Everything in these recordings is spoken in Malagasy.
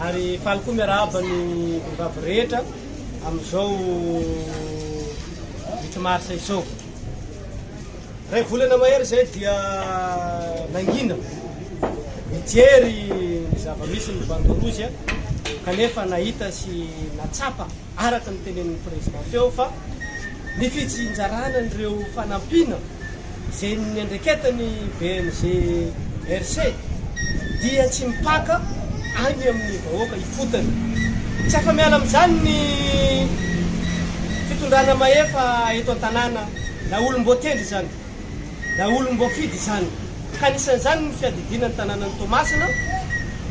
Ary faly koa miarahaba ny vehivavy rehetra amin'izao huit mars izao. Ray volana mahery izay dia nangina mijery ny zava-misy ny Bandorozy kanefa nahita sy natsapa Araka ny tenenin'ny Prezidà teo fa ny fitsinjarana an'ireo fanampiana izay niandraiketan'ny BNGRC dia tsy mipaka any amin'ny vahoaka ifotony. Tsy afa-miala amin'izany ny fitondrana mahefa eto an-tanàna na olom-boatendry izany. daholomb'voafidy izany, ka anisan'izany ny fiadidiana ny tanànan'i Toamasina,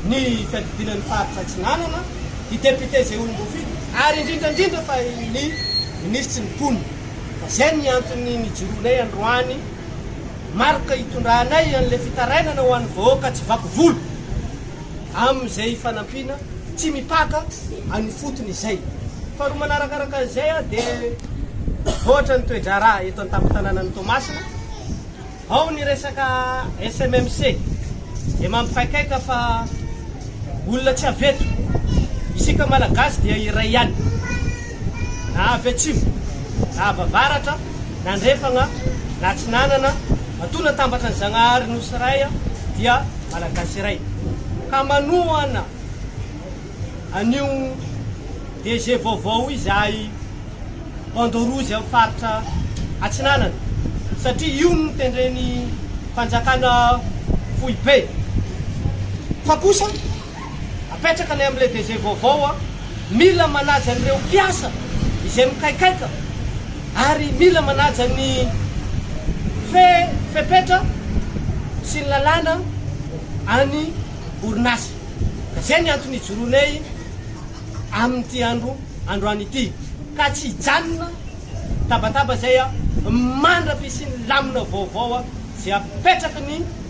ny fiadidiana ny faritra Atsinanana, ny députés izay olom-boafidy, ary indrindra indrindra fa ny minisitry ny mponina. Ka izay ny antony nijoroanay androany, marika hitondranay an'ilay fitarainana ho an'ny vahoaka tsy vaky volo. amin'izay fanampiana tsy mipaka any ifotony izay. Faharoa manarakaraka an'izay dia voatra ny toe-draharaha eto an-tampon-tanànan'i Toamasina. Ao ny resaka SMMC dia mampikaikaika fa olona tsy avy eto. Isika Malagasy dia iray ihany na avy atsimo na avy avaratra na andrefagna na atsinanana Matoa natambatra ny Zagnahary Nosy Ray dia Malagasy iray ka manohana an'io DG vaovao izahay Bandeau Rouge amin'ny faritra Atsinanana satria io no tendren'ny Fanjakana foibe fa kosa Apetrakanay amin'ilay DG vaovao an, mila manaja an'ireo mpiasa izay mikaikaika ary mila manaja ny fe, fepetra sy ny lalàna any orinasa. Ka izay ny antony ijoroanay amin'ity andro androany ity. Ka tsy hijanona tabataba izay an, mandra-pisian'ny lamina vaovao izay apetraky ny.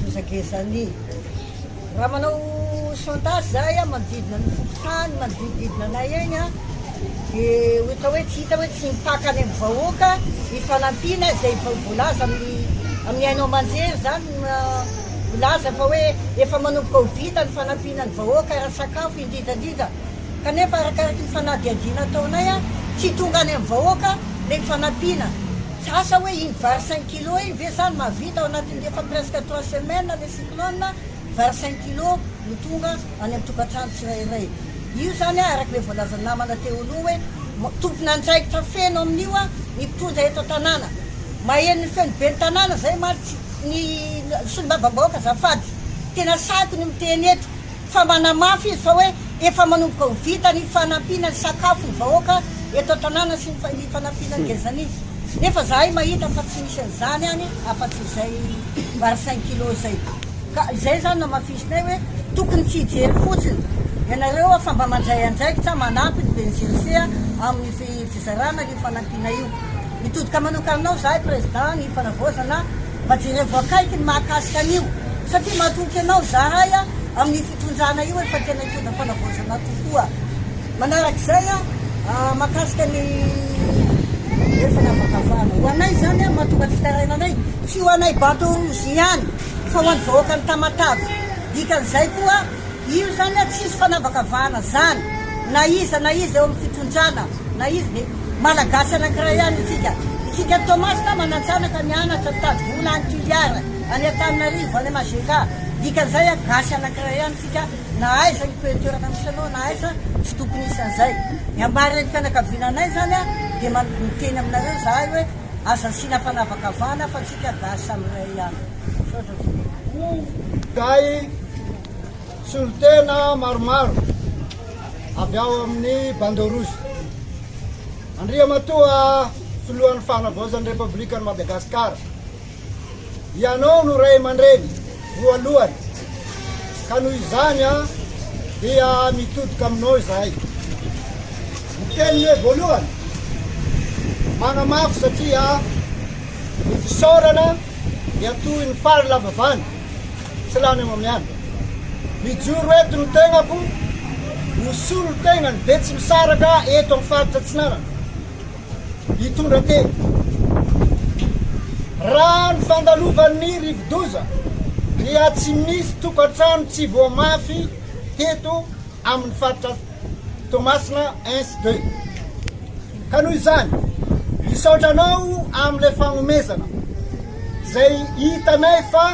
Gezagezany. Raha manao sondage za eo manodidina ny fokontany manodidididina anay egny a, de ohatra hoe tsy hita hoe tsy mipaka any amin'ny vahoaka ny fanampiana izay vao voalaza amin'ny amin'ny haino aman-jery zany no milaza fa hoe efa manomboka ho vita ny fanampiana ny vahoaka ara-tsakafo indrindra indrindra kanefa arakaraky ny fanadihadiana ataonay a tsy tonga any amin'ny vahoaka le fanampiana tsy asa hoe iny vary cinq Kilo iny ve zany mahavita ao anatin'ny efa presque trois semaines le cyclone vingt cinq kilo no tonga any amin'ny tokantrano tsirairay io zany a araky le voalazan'ny namana teo aloha hoe tompon'andraikitra feno amin'io a ny mpitondra eto an-tanàna maheno ny feon'ny ben'ny tanàna zay mantsy ny solombavambahoaka azafady tena sahiko ny miteny eto fa manamafy izy fa hoe efa manomboka ho vita ny fanampiana ny sakafo ny vahoaka eto an-tanàna sy ny fanampiana ny gezan'ny nefa zahay mahita fa tsy misy an'izany any afa-tsy izay vary cinq kilos izay ka izay izany namafisinay hoe tokony tsy hijery fotsiny ianareo fa mba mandray andraikitra manampy ny ben'ny GEC amin'ny fizarana io fanampiana io. Mitodika manoka aminao izahay Président ny fanavaozana Mba jerevo akaiky ny mahakasika an'io satria matoky anao zahay amin'ny fitondrana io efa tena hitondra fanavaozana tokoa. Manarak'izay mahakasika ny hery fanavakavahana. Ho anay izany mahatonga ny fitarainanay tsy ho anay Bato Rouge ihany fa ho an'ny vahoakan'i Tamatave. Dikan'izay koa. Io zany a tsisy fanavakavahana zany na iza na iza eo amin'ny fitondrana na iza dia Malagasy anankiray ihany isika. Isika any Toamasina manan-tsanaka mianatra mitady vola any Toliara any Antananarivo any Majk dikan'izay a gasy anankiray ihany isika na aiza ny peu toerana misy anao na aiza tsy tokony hisy an'izay. Ny hamarin'ny fianakaviana anay zany a dia miteny aminareo zahay hoe aza asiana fanavakavahana fa tsika gasy samy iray ihany. ho day solontena maromaro avy ao amin'ny bandeau rouge andriamatoa filohan'ny fanavaozan'ny repoblikan'i madagasikara ianao no ray aman-dreny voalohany ka noho izany a dia mitodoka aminao izahay ny teniny hoe voalohany magnamafy satria Ny fisaorana miatohy ny fary lava vany, tsy lany amamiany. Mijoro eto ny tegnako ho solon-tegnan'ny Betsimisaraka eto amin'ny faritra Atsinanana. Hitondra teny. Raha ny fandalovan'ny rivodoza dia tsy misy tokantrano tsy voamafy teto amin'ny faritra Toamasina Ins de. Ka noho izany, misaotra anao amin'ilay fagnomezana izay hitanay fa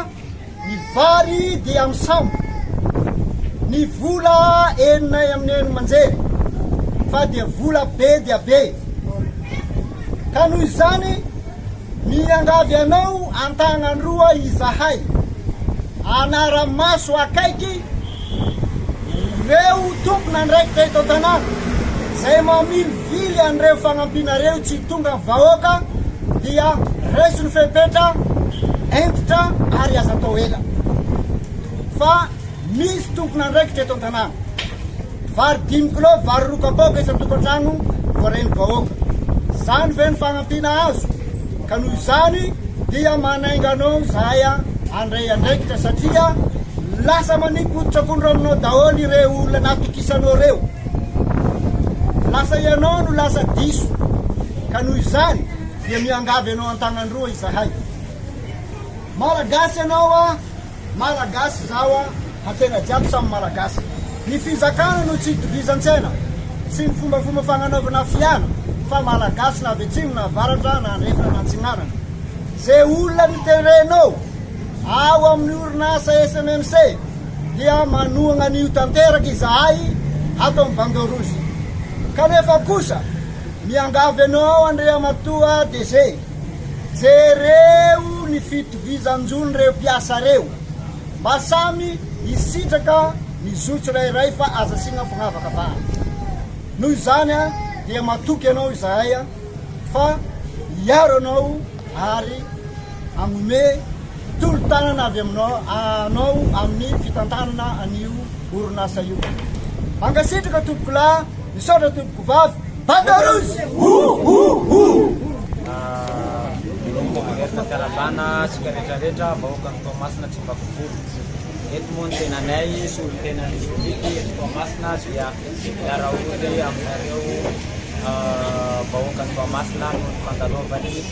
ny vary dia misambo ny vola eninay amin'ny eny manjery fa dia vola be dia be. Ka noho izany, Miangavy anao an-tanan-droa izahay hanara-maso akaiky ireo tompon'andraikitra eto an-tanàna izay mamilivily an'ireo fagnampiana ireo tsy tonga amin'ny vahoaka dia raiso ny fepetra hentitra ary aza atao ela fa misy tompon'andraikitra eto an-tanàna. Vary dimy kilao, vary roa kapoaka isan-tokantrano voarain'ny vahoaka. Izany ve no fanampiana azo? Ka noho izany dia manainga anao izahay handray andraikitra satria lasa manipy hoditr'akondro aminao daholo ireo olona natokisanao ireo. Lasa ianao no lasa diso. Ka noho izany dia miangavy anao an-tanan-droa izahay. Malagasy ianao a! Malagasy zaho a, hakena jiaby samy Malagasy. Ny fizakana no tsy itovizan-tsaina sy ny fombafomba fagnanaovana fiana fa Malagasy na avy atsimo na avaratra na andrefana na antsinanana. Ze olona ny terrain-nô ao amin'ny orinasa SMMC dia manohagna an'io tanteraka izahay ato amin'ny Bandeau Rouge. Kanefa kosa miangavy anao Andriamatoa DG. Jereo ny fitovizan-jony reo mpiasa reo mba samy hisitraka ny zo tsirairay fa aza asiana fanavakavahana. Noho izany dia matoky anao izahay fa hiaro anao ary hagnome Tolo-tanana avy aminao anao amin'ny fitantanana an'io orinasa io. Mankasitraka tompokolahy, misaotra tompokovavy, Banda Rouge! Minomboka mamerina fiarabana antsika rehetrarehetra vahoakan'i Toamasina tsy mifakofoy. Eto moa ny tenanay sy olon-tenan'ny district eto Toamasina dia miara-ory aminareo vahoakan'i Toamasina noho ny fandalovan'ny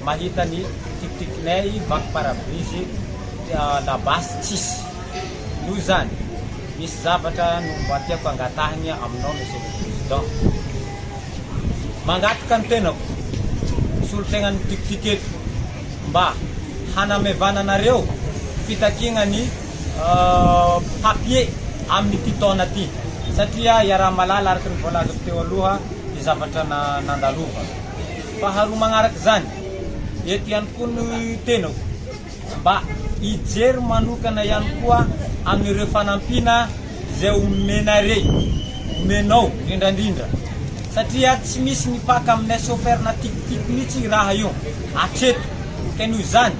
Mahita ny tikitikinay vaky parabrise labasy tsisy noho izany misy zavatra no mba tiako angatahina aminao Monsieur le Président. Mangataka ny tenako solontenan'ny tikitiky eto mba hanamevana anareo fitakiana ny papier amin'ity taona ity satria iaraha-mahalala araka ny voalazako teo aloha ny zavatra nandalova. Faharoa magnaraka izany, eto ihany koa no tenako mba hijery manokana ihany koa amin'ireo fanampiana izay omenarey, omenao indrindrandrindra satria tsy misy mipaka aminay chauffeur na tikitika mihitsy io raha io hatreto ka noho izany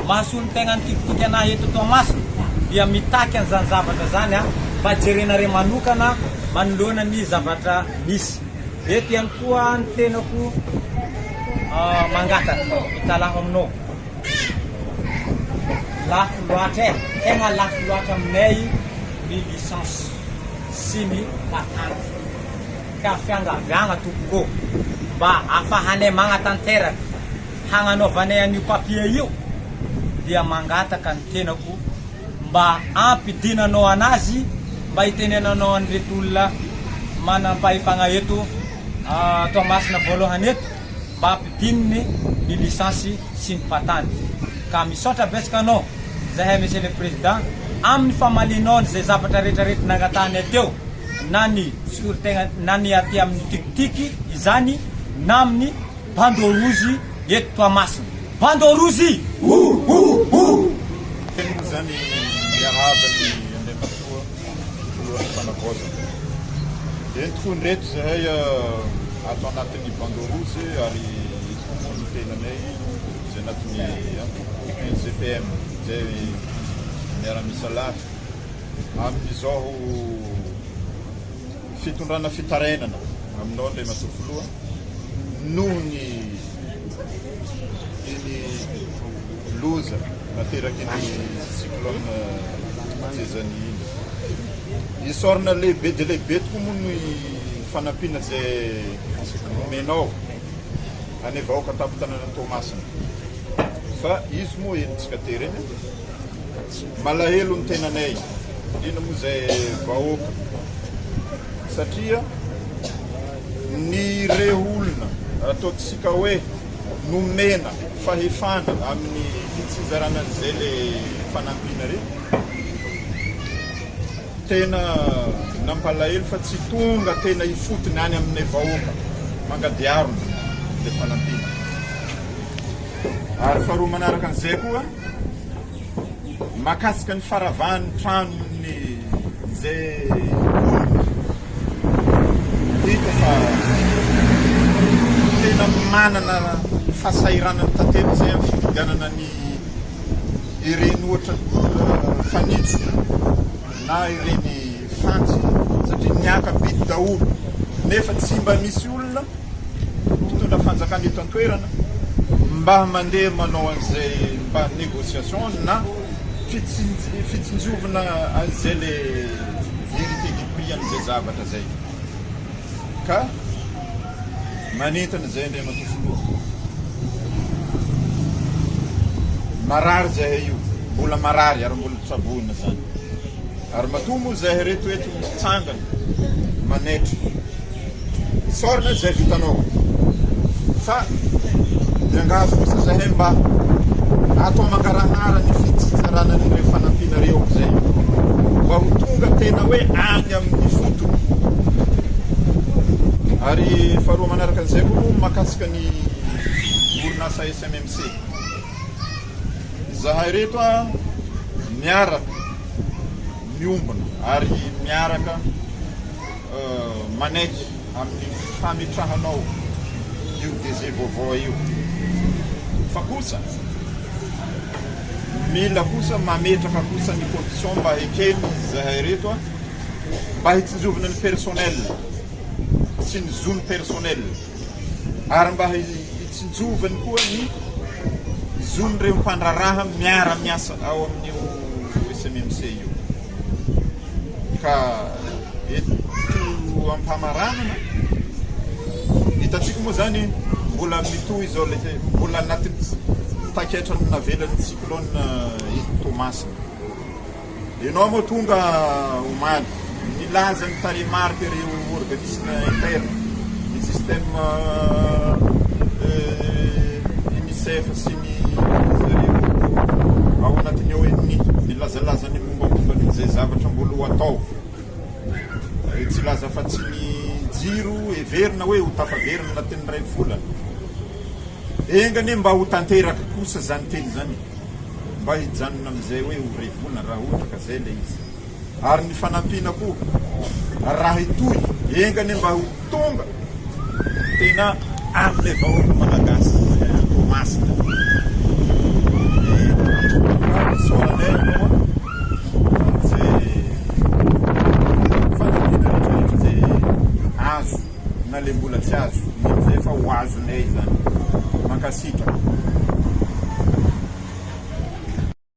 mahasolo ny tegna ny tikitika anahy eto Toamasina dia mitaky an'izany zavatra izany mba jerenarey manokana manoloana ny zavatra misy. Eto ihany koa ny tenako mangataka hitalaho aminao. Lafo loatra eh, tegna lafo loatra aminay ny licence sy ny patente. Ka fiangaviagna tompoko ô, mba afahanay magnatanteraka hagnanaovanay an'io papier io dia mangataka ny tenako. mba hampidinanao anazy mba hitenenanao an'ireto olona manam-pahefagna eto Toamasina voalohany eto mba hampidininy ny lisansy sy ny patany ka misaotra betsaka anao zahay Monsieur le Président amin'ny famalianao an'izay zavatra rehetra reto nangatahanay teo na ny fisoron-tegna na ny aty amin'ny tikitiky izany na amin'ny Bandeau rouge eto Toamasina. Bandeau rouge! Ouh ouh ouh! Teny moa izany miarahaba ny Andriamatoa Filohan'ny Fanavaozana. Eny tokoa indreto izahay ato anatin'ny Bandeau rouge ary ito koa moa ny tenanay izay anatin'ny antoko NJPM izay miara-misalahy amin'izao fitondrana fitarainana aminao Andriamatoa Filoha noho ny iny loza nateraky ny cyclone Jezani iny. Isaorana lehibe dia lehibe tokoa moa ny fanampiana izay nomenao any vahoaka tampon-tanàna Toamasina fa izy moa henontsika tery eny. Malahelo ny tenanay, indrindra moa izay vahoaka, satria ny ireo olona ataontsika hoe nomena fahefana amin'ny fitsizarana an'izay le fanampiana re, tena nampalahelo fa tsy tonga tena ifotony any amin'ny vahoaka mangadiarona le fanampiana. Ary faharoa manaraka an'izay koa. mahakasika ny faravahan'ny tranon'ny izay olona hita fa tena manana fahasahiranany tantely izay amin'ny fifidianana ny ireny ohatra ny olona fanitso na ireny fantsy satria ny akabidy daholo nefa tsy mba misy olona ny mpitondra fanjakana eto an-toerana mba mandeha manao an'izay mba négociation na fitsinj- fitsinjovina an'izay le vérité du prix an'izay zavatra zay ka manentana izay Andriamatoa Filoha marary zahay io mbola marary ary mbola tsaboina zany ary matoa moa zahay reto eto mitsangana manetra Isaorana izay vitanao. Fa miangavy kosa zahay mba atao mangarahara ny fitsitsarana an'ireo fanampianareo amin'izay mba ho tonga tena hoe any amin'ny fotony. Ary faharoa manaraka an'izay koa moa makasika ny orinasa SMMC. Izahay reto a miaraka miombona ary miaraka manaiky amin'ny fametrahanao io DG vaovao io fa kosa mila kosa mametraka kosa ny condition mba ekeny zahay reto a mba hitsinjovina ny personnel sy ny zony personnel ary mba hitsinjovany koa ny zon'ireo mpandraraha miara miasa ao amin'io SMMC io Ka eto am-pamaranana, hitantsika moa izany mbola mitohy izao ilay te- mbola anatin'ny ts- taketra navelan'ny cyclone eh, eto Toamasina. Ianao moa tonga omaly, nilaza ny tarehimarika ireo organisme interne, ny système euh, euh, UNICEF sy Ankohonan'izareo ao anatiny ao ny nilazalazany mombamomba ny izay zavatra mbola ho atao. Ary tsy laza afa tsy ny jiro heverina hoe ho tafaverina anatin'ny iray volana. Enga anie mba ho tanteraka kosa izany teny izany mba hijanona amin'izay hoe ho iray volana raha ohatra ka izay ilay izy. ary ny fanampiana koa raha hitohy enga anie mba ho tonga tena amin'ilay vahoaka malagasy izay Toamasina ny antoko soalanay aloha amin'izay fanampiana rehetrarehetra izay azo na ilay mbola tsy azo izay efa ho azonay izany mankasitraka